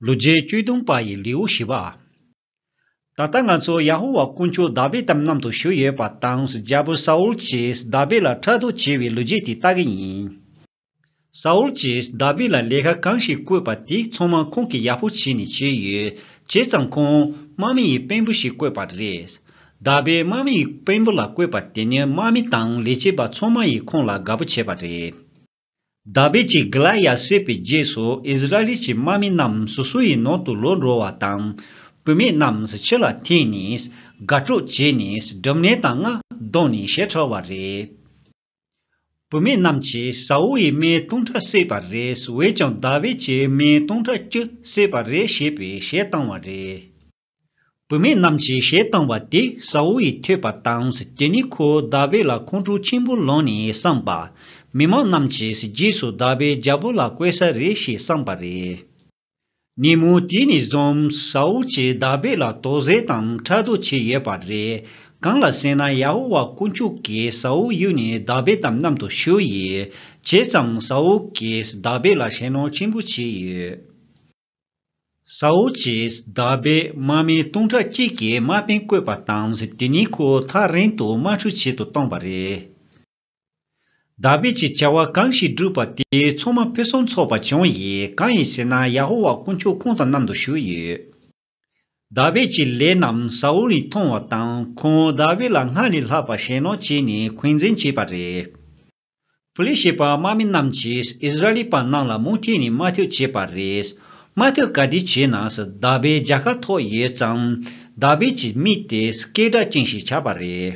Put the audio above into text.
ལོ་བརྒྱད་ཅུ་སྟོང་པ་ཡི་ལེའུ་བཞི་པ། ད་ལྟ་ང་ཚོ་ཡ་ཧོ་ཝཱ་དཀོན་མཆོག་དཱ་བིད་དམ་ནམ་དུ་བཞུགས་ཡོད་པ་དང་རྒྱལ་པོ་ས་ཨུལ་གྱིས་དཱ་བིད་ལ་ཕྲག་དོག་བྱས་པའི་ལོ་རྒྱུས་དེ་ལྟ་གི་ཡིན། ས་ཨུལ་གྱིས་དཱ་བིད་ལ་ལས་ཀ་གང་ཞིག་བསྐོས་པ་དེ་ཚང་མ་ཁོང་གིས་ཡག་པོ་བྱས་ནས་བྱས་ཡོད། བྱས་ཙང་ཁོང་དམག་མི་ཡི་དཔོན་པོ་ཞིག་བསྐོས་པ་རེད། དཱ་བིད་དམག་མི་ཡི་དཔོན་པོ་ལ་བསྐོས་པ་དེ་ནི་དམག་མི་དང་ལས་བྱེད་པ་ཚང་མ་ཡིས་ཁོང་ལ་དགའ་པོ་བྱས་པ་རེད། དཱ་བིད་ཀྱིས་གི་ལ་ཡཱད་བསད་པའི་རྗེས་སུ་ཨིས་ར་ཨེལ་གྱི་དམག་མི་རྣམས་སོ་སོའི་ནང་དུ་ལོག་འགྲོ་བ་དང། བུད་མེད་རྣམས་ཕྱི་ལ་འཐེན་ནས་དགའ་སྤྲོ་བྱས་ནས་སྦྲུམ་ནད་དང་རྔ་བརྡུངས་ནས་ཞེ་ཁྲེལ་བ་རེད། བུད་མེད་རྣམས་ཀྱིས་ས་ཨུལ་ཡི་སྨད་སྟོང་ཕྲག་བསད་པ་རེད་འོད་ཀྱང་དཱ་བིད་ཀྱི་སྨད་སྟོང་ཕྲག་བཅུ་བསད་པ་རེད་ཞེས་པའི་ཞལ་བཏང་བ་རེད། བུད་མེད་རྣམས་ཀྱིས་གཞས་བཏང་བ་དེ་སའོ་ཡིས་ཐོས་པ་དང་དེ་ནས་ཁོ་ཟླ་བས་ལ་ཁོང་ཁྲོ་ཆེན་པོ་ལངས་ནས་བསམས་པ། མི་མང་རྣམས་ཀྱིས་རྗེས་སུ་ཟླ་བས་རྒྱལ་པོ་ལ་བསྐོས་ས་རེད་ཞེས་བསམས་པ་རེད། ཉིན་མོ་དེ་ནས་བཟུང་སའོ་ཀྱིས་ཟླ་བས་ལ་དོགས་ཟས་དང་ཕྲག་དོག་བྱས་ཡོད་པ་རེད། གང་ལ་ཟེར་ན་ཡ་ཧོ་ཝཱ་དཀོན་མཆོག་གིས་སའོ་གཡུགས་ནས་ཟླ་བས་དམ་གནམ་དུ་ཞུ་ཡི། བྱས་ཙང་སའོ་ཀྱིས་ཟླ་བས་ལ་ཞེད་སྣང་ཆེན་པོ་བྱས་ཡོད། ས་འོག་གི་ཟླ་བའི་དམག་མི་སྟོང་ཕྲག་གཅིག་གིས་དམག་དཔོན་བསྐོས་པ་དང་དེ་གཉིས་ཁོ་ཐག་རིང་དུ་དམག་འཁྲུག་བྱེད་དུ་བཏང་བ་རེད། དཱ་བིད་ཀྱིས་བྱ་བ་གང་ཞིག་བསྒྲུབས་པ་དེའི་ཚོགས་མ་ཕུན་སུམ་ཚོགས་པ་བྱུང་ཡི་གང་ཡིན་ཟེར་ན་ཡ་ཧོ་ཝཱ་དཀོན་མཆོག་ཁོང་དང་མཉམ་དུ་བཞུགས་ཡོད། དཱ་བིད་ཀྱི་ལས་རྣམས་ས་འོག་ནས་མཐོང་བ་དང་ཁོང་དཱ་བིད་ལ་སྔར་ལས་ལྷག་པར་ཞེན་ལོག་བྱས་ནས་འཁོན་འཛིན་བྱས་པ་རེད། པུ་ལེ་ཞེས་པ་དམག་མི་རྣམས་ཀྱིས་ཨིས་ར་ལི་པ་རྣམས་ལ་མུ་མཐུད་ནས་དམའ་འཐུད་བྱས་པ་རེད། དམའ་འཐུད་ག་དུས་བྱས་ན་ཟླ་བའི་རྒྱལ་ཁ་ཐོག་ཡོད་ཙང། ཟླ་བས་ཀྱི་མིག་དེ་སྐད་སྒྲ་ཅན་ཞིག་ཆགས་པ་རེད།